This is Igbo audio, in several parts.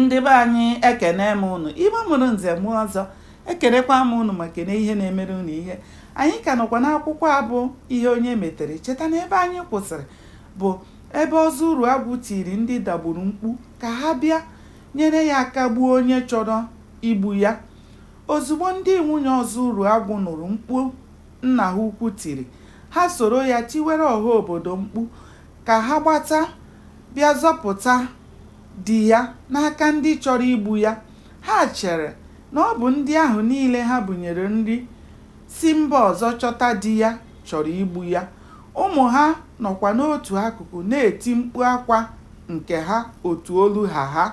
ndị be anyị ekene m ụnụ igbo mụrụ nze mụọ ọzọ ekenekwa m ụnụ ma kene ihe na-emere ụnụ ihe anyị ka nọkwa n'akwụkwọ a bụ ihe onye metere cheta na ebe anyị kwụsịrị bụ ebe ọzọ uruagwụ tiri ndị dagburu mkpu ka ha bịa nyere ya aka gbuo onye chọrọ igbu ya ozugbo ndị nwunye ọzọ uruagwụ nụrụ mkpu nna ha ukwu tiri ha soro ya tiwere ọha obodo mkpu Ka ha gbata bịa zọpụta di ya n'aka ndị chọrọ igbu ya. Ha chere na ọ bụ ndị ahụ niile ha bunyere nri si mba ọzọ chọta di ya chọrọ igbu ya. Ụmụ ha nọkwa n'otu akụkụ na-eti mkpu akwa nke ha otu olu ha ha.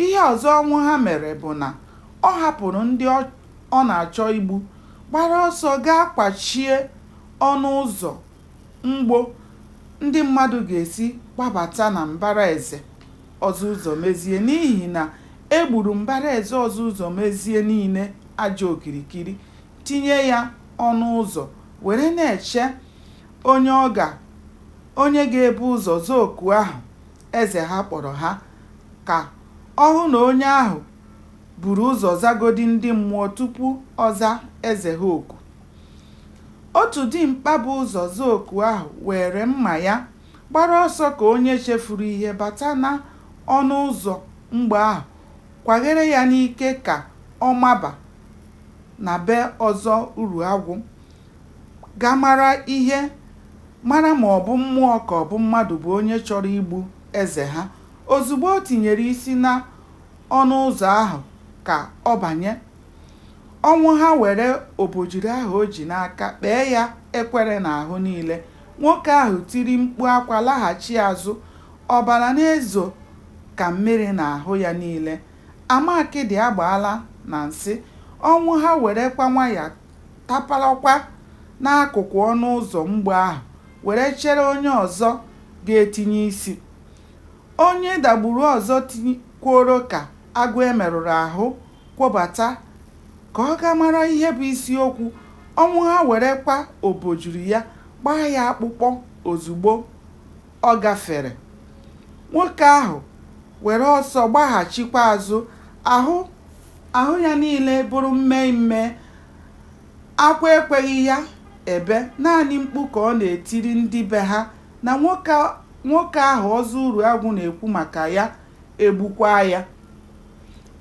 Ihe ọzọ Ọnwụha mere bụ na ọ hapụrụ ndị ọ na-achọ igbu gbara ọsọ gaa kwachie ọnụ ụzọ mgbo ndị mmadụ ga-esi gbabata na mbara ezi Ọzọ Ụzọmezie n'ihi na e gburu mbara ezi Ọzọ Ụzọmezie niile aja okirikiri, tinye ya ọnụ ụzọ were na-eche onye ọ ga onye ga-ebu ụzọ zaa oku ahụ eze ha kpọrọ ha ka ọ hụ na onye ahụ buru ụzọ zagodi ndị mmụọ tupu ọ zaa eze ha oku. Otu dimkpa bu ụzọ zaa oku ahụ were mma ya gbara ọsọ ka onye chefuru ihe bata n'ọnụ ụzọ mgbo ahụ kwaghere ya n'ike ka ọ maba na be Ọzọ Uruagwụ gaa mara ihe mara ma ọ bụ mmụọ ka ọ bụ mmadụ bụ onye chọrọ igbu eze ha. Ozugbo o tinyere isi n'ọnụ ụzọ ahụ ka ọ banye, Ọnwụha were obojiri ahụ o ji n'aka kpee ya ekwere n'ahụ niile. Nwoke ahụ tiri mkpu akwa laghachi azụ, ọbara na-ezo ka mmiri n'ahụ ya niile. Ama akịdị agbaala na nsị. Ọnwụha werekwa nwayọ taparakwa n'akụkụ ọnụ ụzọ mgbo ahụ were chere onye ọzọ ga-etinye isi. Onye Dagburu ọzọ tikwuoro ka agụ e merụrụ ahụ kwobata ka ọ gaa mara ihe bụ isi okwu Ọnwụha werekwa obojiri ya gbaa ya akpụkpọ ozugbo ọ gafere. Nwoke ahụ were ọsọ gbaghachikwa azụ ahụ ahụ ya niile bụrụ mmee mmee. Akwa ekweghị ya ebe, naanị mkpu ka ọ na-etiri ndị be ha na nwoke ahụ Ọzọ Uruagwụ na-ekwu maka ya egbukwaa ya.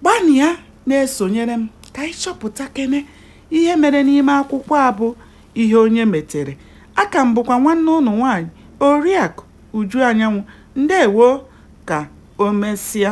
Gbanịa na-esonyere m ka anyị chọpụtakene ihe mere n'ime akwụkwọ a bụ Ihe Onye Metere. Aka m bụkwa nwanne ụnụ nwaanyị Oriakụ Uju Anyanwụ. Ndewo ka o mesịa.